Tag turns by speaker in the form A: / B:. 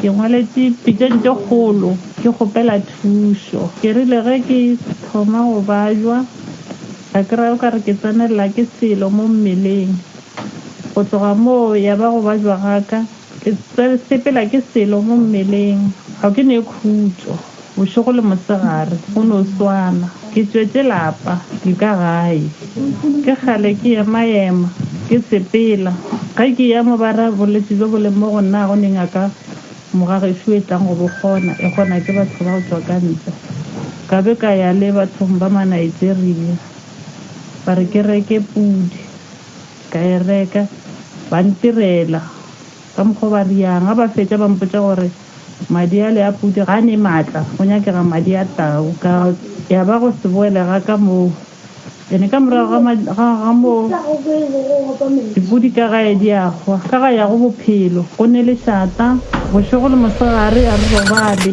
A: Ke ngwaletše pitšeng tše kgolo ke kgopela thušo. Ke rile ge ke thoma go bajwa, ka kry-a o ka re ke tsenelela ke selo mo mmeleng. Go tloga moo ya ba go bajwa ga ka ke sepela ke selo mo mmeleng, ga ke ne khutšo. Bošego le mosegare go no swana. Ke tšwetše lapa, ke ka gae. Ke kgale ke ema-ema, ke sepela. Ge ke eya mo ba ra, Bolwetši bjo bo leng mo go nna ga go ne ngaka moga gešo e tlang go bo kgona, e kgona ke batho ba go tšwa ka ntle. Ka be ka ya le bathong ba ma-Nigeria. Ba re ke reke pudi. Ka e reka. Ba ntirela. Ka mokgwa o ba riang. Ge ba fetša ba mpotša gore. Madi ale a pudi ga a ne maatla, go nyakega madi a tau. Ka ya ba go se boele ga ka moo. Ene ka morago ga ma, ga, ga moo, dipudi ka gae di a hwa, ka ga ya go bophelo. Go ne le šata, bošego le mosegare, a re robale.